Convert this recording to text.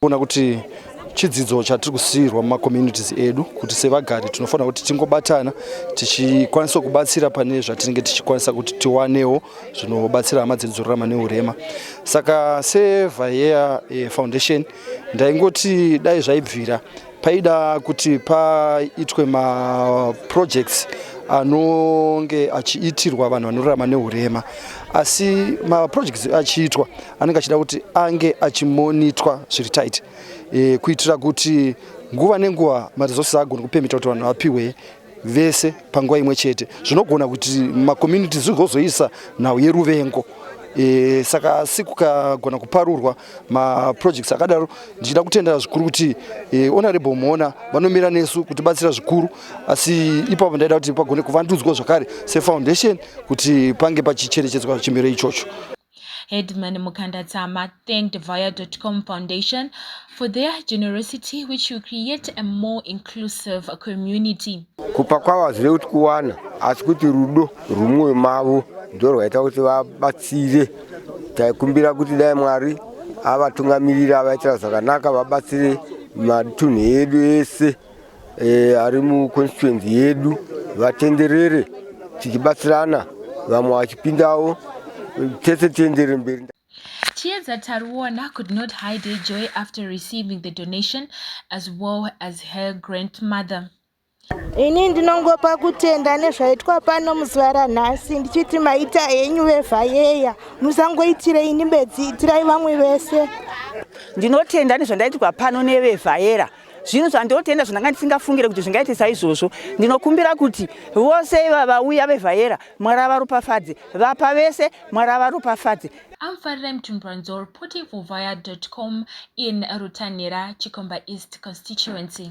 Kuona kuti chidzidzo chatiri kusiirwa mumacommunities edu kuti sevagari tinofanira kuti tingobatana tichikwanisa kubatsira pane zvatinenge tichikwanisa kuti tiwanewo zvinobatsira hama dzedu dzorarama neurema saka sevaea eh, foundation ndaingoti dai zvaibvira Paida kuti paitwe maprojects anonge achiitirwa vanhu vanorarama neurema asi maprojects achiitwa anenge achida kuti ange achimonitwa zviri tight e, kuitira kuti nguva nenguva maresources agone kupemita kuti vanhu vapiwe vese panguva imwe chete zvinogona kuti makomuniti zvigozoisa nhau yeruvengo e, saka asi kukagona kuparurwa maprojects akadaro ndichida kutendera zvikuru kuti e, honorable mhona vanomira nesu kutibatsira zvikuru asi ipapo ndaida kuti pagone kuvandudzwa zvakare sefoundation kuti pange pachicherechedzwa chimiro ichocho Headman Mukanda Tsama thanked Vaya.com Foundation for their generosity which will create a more inclusive community. Kupa kwavo hazvive kuti kuwana asi kuti rudo rwumwoyo mavo ndorwaita kuti vabatsire. Taikumbira kuti dai Mwari avatungamirira avaitira zvakanaka vabatsire matunhu edu ese. e, ari muconstituency yedu vatenderere tichibatsirana vamwe vachipindawo tese tiendere mberi Tears at Taruona could not hide her joy after receiving the donation as well as her grandmother. Ini ndinongopa kutenda nezvaitwa pano muzuva ranhasi ndichiti maita henyu vevhayeya musangoitire ini bedzi itirai vamwe vese. Ndinotenda nezvandaitirwa pano nevevhayera zvinhu zvandinotenda zvandanga ndisingafungire kuti zvingaite saizvozvo ndinokumbira kuti vose iva vauya vevhayera mwari avaropafadze vapa vese mwari avaropafadze I'm Farida Mtumburanzo reporting for Vaya.com in Rutanhira, Chikomba East constituency.